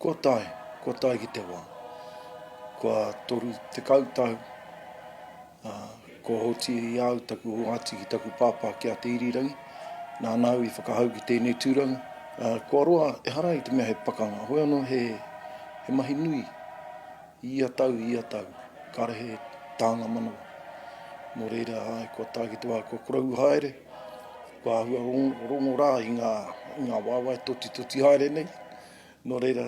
Kua tae, kua tae ki te wā. Kua toru tekau tau, kua hoti i au taku oati ki taku pāpā ki a Te Irirangi, nāna au i whakahau ki tēnei tūranga. Kua roa, ehara i te mea he pakanga, hoi anō he mahi nui. I ia tau, i ia tau, kāre he tānga manawa. Nō reira, āe, kua tae ki te wā, kua koroua haere, kua āhua rongo rā i ngā, i ngā waewae totitoti haere nei. Nō reira,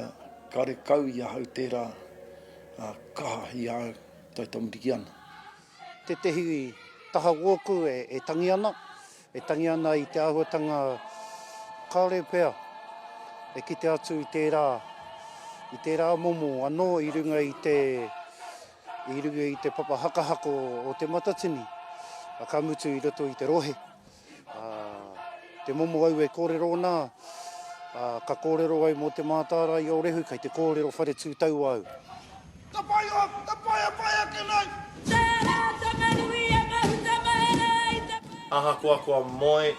kāre kau i ahau tērā kaha i a au, taitamariki ana. Tētehi taha wōku e tangi ana, E tangi ana i te āhuatanga kāore pea e kite atu i tērā, i tērā momo anō i runga i te, i runga i te papa hakahako o Te Matatini, a ka mutu i roto i te rohe. A, te momo au e kōrero ana, a, ka kōrero au mō te mātārae i o Rehu, kei te kōrero whare tū taua au. Ka pai o, ka pai a pai ake nei! Tērā tana hui a Mahutamaera i te wā. Ahakoa kua moe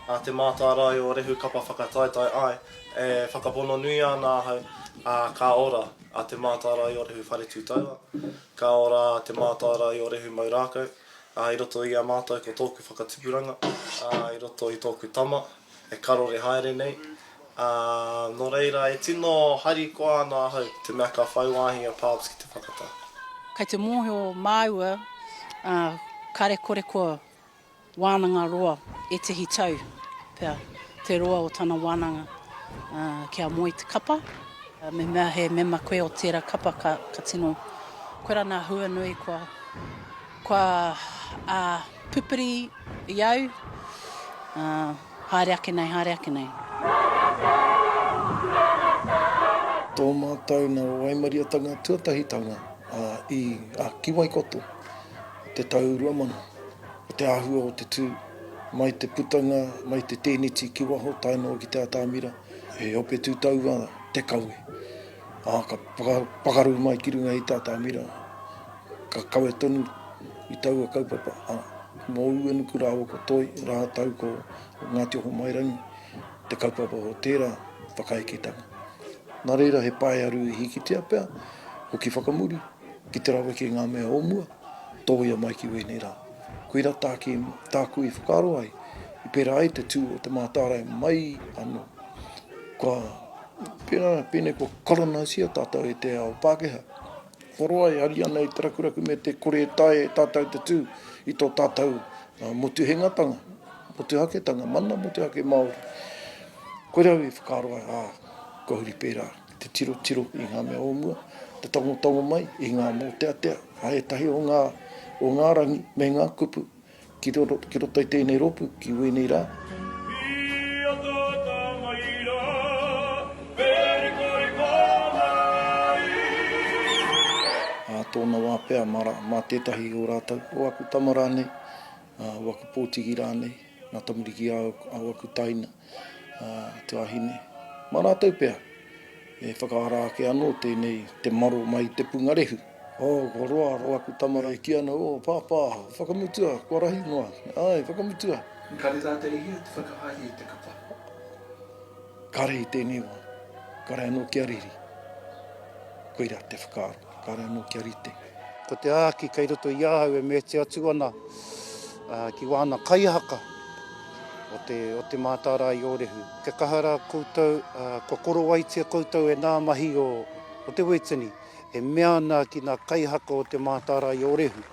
a Te Mātārae o Rehu Kapa Whakataetae ai, e whakapono nui ana ahau, ā, ka ora a Te Mātārae o Rehu Wharetūtaua, ka ora a Te Mātārae o Rehu Maurākau, ā, i roto i a mātou ko tōku whakatupuranga, ā, i roto i tōku tama, e karore haere nei, ā, nō reira e tino harikoa ana ahau i te mea ka whai wāhi a Pabs ki te whakatā. Kei te mōhio māua, ā, kāre kore kua wānanga roa ētehi tau pea te roa o tana wānanga, ā, kia moe i te kapa, ā, mehemea he mema koe o tērā kapa ka, ka tino, koirā nā hua nui kua, kua, ā. Pupuri i au, ā, haere ake nei, haere ake nei. Tō mātou nā waimaria-tanga tuatahitanga i a Kiwaikoto i te tau rua mano, ko te āhua o te tū, mai te putanga, mai te tēneti ki waho tae noa ki te atamira, he ope tū taua te kawe, ā, ka pakaru mai ki runga i te atamira. Ka kawe tonu i taua kaupapa a Mo Uenuku rāua ko Toi rātou ko Ngāti Ohomairangi te kaupapa o tērā whakaeketanga. Nā reira he paearu i hikitia pea hoki whakamuri ki te raweke i ngā mea o mua, tōia mai ki wēnei rā. Koira tāki tāku i whakaaro ai i pērā ai te tū o te mātārae mai anō. Kua pērā pēnei kua kolonaisia tātou e te ao Pākehā. Korowai, Hariana i te rakuraku me te kore e taea e tātou te tū i tō tātou motuhengatanga, motuhaketanga, mana motuhake Māori. Koirā au i whakaaro ai, ā, kua huri pērā te tirotiro i ngā mea o mua, te tangotango mai i ngā mōteatea a ētahi o ngā, o ngā rangi me ngā kupu. Ki roto, ki roto i tēnei rōpū, ki wēnei rā. tōna wā pea mā, mā tētahi o rātou, o aku tama rānei, uh, o aku pōtiki rānei, ngā tamariki a, a aku taina, uh, te wahine, mā rātou pea. E whakaara ake anō tēnei te maro mai i te pungarehu. Oh, kua roa, roa aku tama e kī ana, Oh, Pāpā, whakamutua, kua rahi noa. Āe, whakamutua. Engari rā te ihi te whakahaere i te kapa. Kare i tēnei wā, kare anō kia riri. Koirā te whakaaro. Kāre anō kia rite. Ko te āki kei roto i ahau e meheti atu ana ki wāna kaihaka o te Mātārae-i-ōrehu. Kia kaha rā koutou, kua korowaitia koutou e nā mahi o te Wētini e mea ana ki nā kaihaka o te Mātārae-i-ōrehu.